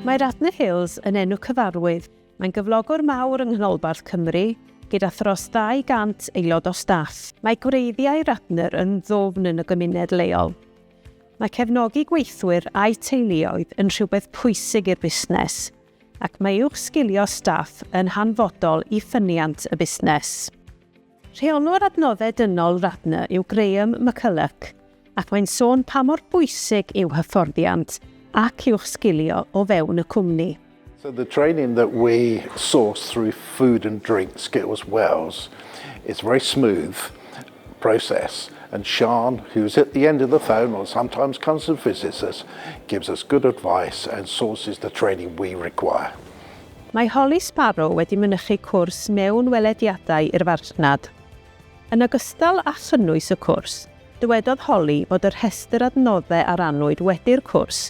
Mae Radnor Hills yn enw cyfarwydd. Mae'n gyflogwr mawr yng Nghanolbarth Cymru, gyda thros 200 aelod o staff. Mae gwreiddiau Radnor yn ddwfn yn y gymuned leol. Mae cefnogi gweithwyr a'i teuluoedd yn rhywbeth pwysig i'r busnes, ac mae uwchsgilio staff yn hanfodol i ffyniant y busnes. Rheolwr Adnoddau Dynol Radnor yw Graham McCulloch ac mae'n sôn pa mor bwysig yw hyfforddiant ac uwchsgilio o fewn y cwmni. So the training that we source through Food and Drink Skills Wales is very smooth process and Siân who's at the end of the phone or sometimes comes and visits us gives us good advice and sources the training we require. Mae Holly Sparrow wedi mynychu cwrs mewn welediadau i'r farchnad. Yn ogystal â chynnwys y cwrs, dywedodd Holly fod y rhestr adnoddau a rannwyd wedi'r cwrs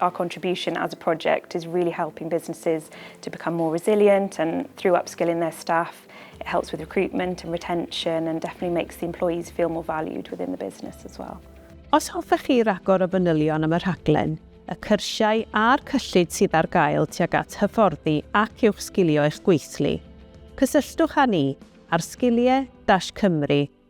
Our contribution as a project is really helping businesses to become more resilient and through upskilling their staff it helps with recruitment and retention and definitely makes the employees feel more valued within the business as well. Os hoffech chi ragor o fanylion am y rhaglen, y cyrsiau a'r cyllid sydd ar gael tuag at hyfforddi ac uwchsgilio eich gweithlu, cysylltwch â ni ar sgiliau-cymru.org.uk.